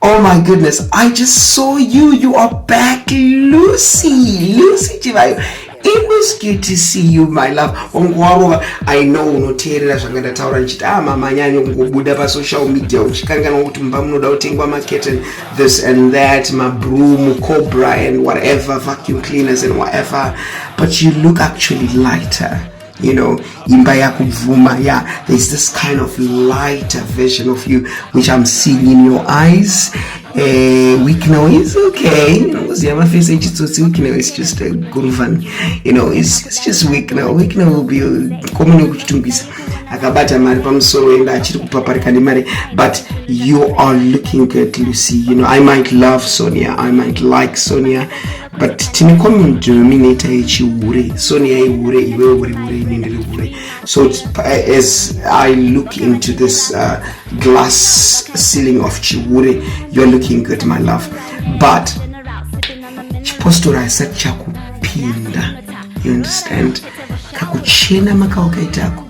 Oh my goodness, I just saw you. You are back, Lucy. Lucy Chivayo. It was good to see you my love. Wanguwarova, I know unoteerera zvanga ndataura ndichiti ah mama anyanyo kungobuda pasocial media uchikanganwa kuti mumba munoda kutengwa macurtain this and that, mabroom, cobra and whatever, vacuum cleaners and whatever. But you look actually lighter. you know imba yakubvuma yeah there's this kind of lighter version of you which i'm seeing in your eyes uh, weak now is okay you know because you have a face age so it's weak now it's just a good fun you know it's, it's just weak now weak now will be common kuchitungisa akabata mari pamusoro enda achiri kupaparika nemari but you are looking good lucy you know i might love sonia i might like sonia but tine common denominator yechihure soni yaihure iwe uri hure ine ndiri hure so as i look into this uh, glass ceiling of chihure youare looking good my love but chipostora haisati chakupinda you understand kakuchena makawakaitako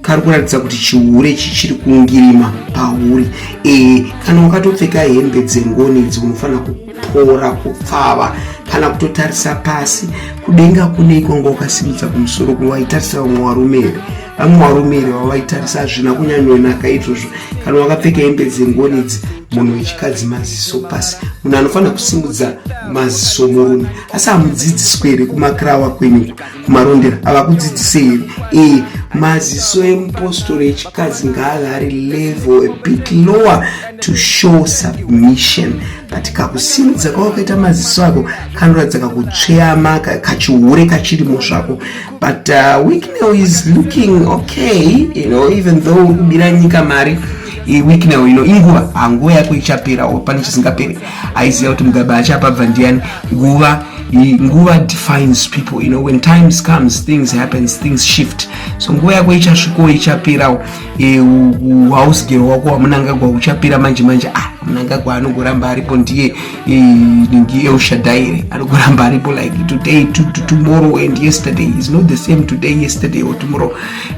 kari kuratidza kuti chihure ichi chiri kungirima pauri ee kana wakatopfeka hembe dzengoni idzi unofanira kuora kupfava kana kutotarisa pasi kudenga kune ikonga ukasimudza kumusoro kuno waitarisa vamwe varume here vamwe varume here vavaitarisa hazvina kunyanyonaka izvozvo kana wakapfeka hembe dzengoni idzi munhu wechikadzi maziso pasi munhu anofanira kusimudza maziso murume asi hamudzidziswe here kumakirawa kwenyuko kumarondera avakudzidzise here e maziso emupostori echikadzi ngaave ari level a bit lower to show submission but kakusimudza kwawakaita maziso ako kanoratidza kakutsveyama kachihure kachirimo zvako but uh, wicknel is looking okay you know even though uri kubira nyika mari week now ino inguva hanguva yako ichapera pane chisingaperi aiziva kuti mugabe achapabva ndiyani nguva nguva defines people you know when times comes things happens things shift so nguva yako ichasvikawo ichapirawo e, uhausgero wako wamunangagwa uchapira manje manje ah munangagwa anogoramba aripo ndiye e, ndi eushadaire anogoramba aripo like today to, to tomorrow and yesterday is not the same today yesterday or tomorrow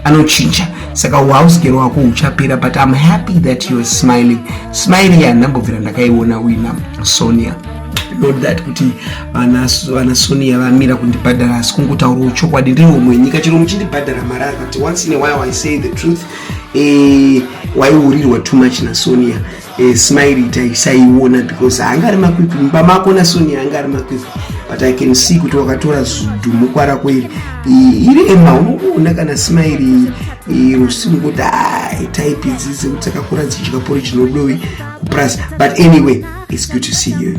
anochinja saka uhouse girl wako uchapera but im happy that youare smiling smile ya ndambobvira ndakaiona uina sonia not that kuti vana sonia vamira kundibhadhara asi kungotaurawo chokwadi ndiri umwe nyika chero muchindibhadhara mari ari kuti once in a while i say the truth eh, waiurirwa too much nasonia e, smile itai saiona because anga ari makwipi mumba mako nasonia anga ari makwipi but i can see kuti wakatora zudhumukwa rako iri iri ema unokuona kana smile rusimu kuti type idzi dzekuti dzakakura dzichidya pori chinodowi kuprasa but anyway its good to see you